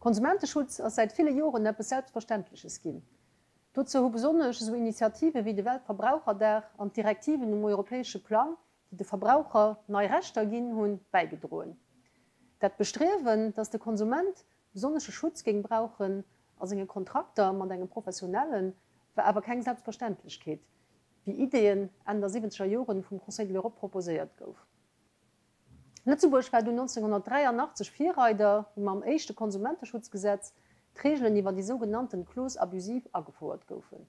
Konsumenteschutz ass säit ville Joren eppes Selbstverständleches ginn. Dozou hu besonnesch esou Initiative wéi de Weltverbraucherdag an d'Direktiven um europäesche Plang, déi de Verbraucher nei Rechter ginn hunn, bäigedroen. Dat Bestriewen, datt de Konsument besonnesche Schutz géing brauchen a senge Kontrakter mat engem Professionellen, war awer keng Selbstverständlechkeet, wéi Ideen Enn der siwwenzeger Joren vum Conseil de l'Europe proposéiert gouf. Lëtzebuerg war dunn 1983 Virreider, wou mam éischte Konsumenteschutzgesetz d'Reegelen iwwer déi sougenannten clauses abusives agefouert goufen.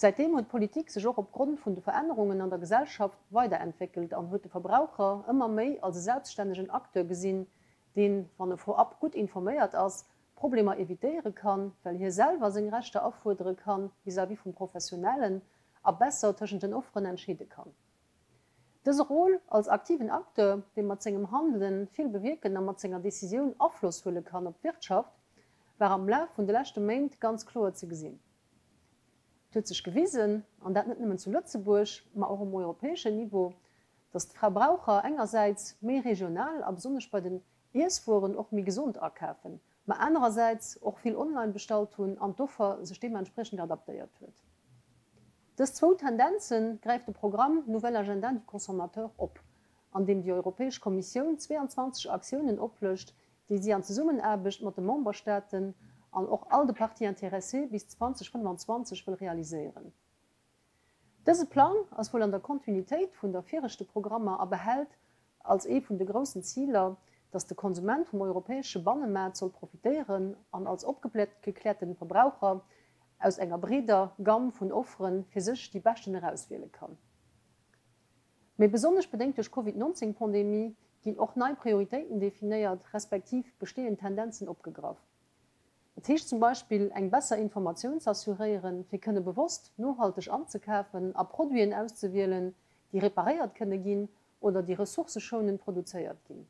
Säitdeem huet d'Politik sech och opgrond vun de Verännerungen an der Gesellschaft weiderentwéckelt an huet de Verbraucher ëmmer méi als e selbststännegen Acteur gesinn, deen, wann e vorab gutt informéiert ass, Problemer evitéiere kann, well hie selwer seng Rechter afuerdere kann vis-à-vis vum Professionellen a besser tëschent den Offeren entscheede kann. Dëse Rôle als aktiven Acteur, dee mat sengem Handelen vill bewierken a mat senger Decisioun Afloss huele kann op d'Wirtschaft, war am Laf vun de leschte Méint ganz kloer ze gesinn. Et huet sech gewisen, an dat net nëmmen zu Lëtzebuerg, ma och um europäeschen Niveau, datt d'Verbraucher engersäits méi regional a besonnesch bei den Iesswueren och méi gesond akafen, mä anerersäits och vill online bestallt hunn an d'Offer sech deementspriechend adaptéiert huet. Dës zwou Tendenze gräift de Programm Nouvel Agenda du Consommateur op, an deem déi Europäesch Kommissioun 22 Aktiounen oplëscht, déi si an Zesummenaarbecht mat de Memberstaaten an och all de Parties intéressées bis 2025 wëll realiséieren. Dëse Plang ass wuel an der Kontinuitéit vun der viregte Programmer a behält als ee vun de groussen Ziler, datt de Konsument vum europäesche Bannemaart soll profitéieren an als opgeklärte Verbraucher aus enger breeder Gamm vun Offere fir sech déi beschten erauswiele kann. Mee besonnesch bedéngt duerch Covid 19 Pandemie ginn och nei Prioritéiten definéiert, respektiv bestehend Tendenzen opgegraff. Dat heescht zum Beispill eng besser Informatioun ze assuréieren, fir kënne bewosst nohalteg anzekafen a Produiten auszewielen, déi reparéiert kënne ginn oder déi ressourceschounend produzéiert ginn.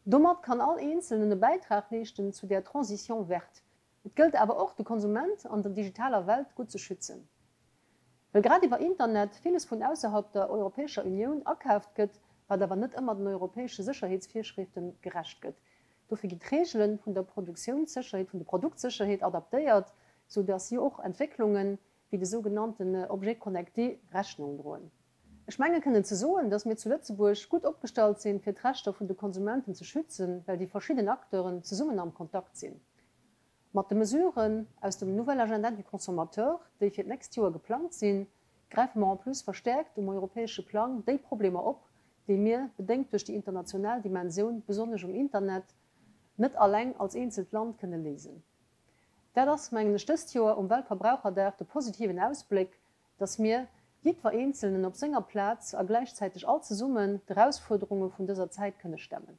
Domat kann all Eenzelnen e Bäitrag leeschten zu der Transition verte. Et gëllt awer och, de Konsument an der digitaler Welt gutt ze schützen. Well grad iwwer Internet villes vun ausserhalb der Europäescher Unioun akaaft gëtt, wat awer net ëmmer den europäesche Sécherheetsvirschriften gerecht gëtt. Dofir ginn d'Reegele vun der Produktiounssécherheet, vun der Produktsécherheet adaptéiert, sou datt si och Entwécklungen, wéi de sougenannten Objet connecté Rechnung droen. Ech menge kënnen ze soen, datt mir zu Lëtzebuerg gutt opgestallt sinn, fir d'Rechter vun de Konsumenten ze schützen, well déi verschidden Acteuren zesummen am Kontakt sinn. Mat de Mesuren aus dem Nouvel Agenda du Consommateur, déi fir d'nächst Joer geplangt sinn, gräife mer en plus verstäerkt um europäesche Plang déi Problemer op, déi mir, bedéngt duerch déi international Dimensioun, besonnesch um Internet, net alleng als eenzelt Land kënne léisen. Dat ass, mengen ech, dëst Joer um Weltverbraucherdag de positiven Ausbléck, dass mir, jiddwer Eenzelnen op senger Plaz a gläichzäiteg all zesummen, d'Erausfuerderunge vun dëser Zäit kënne stemmen.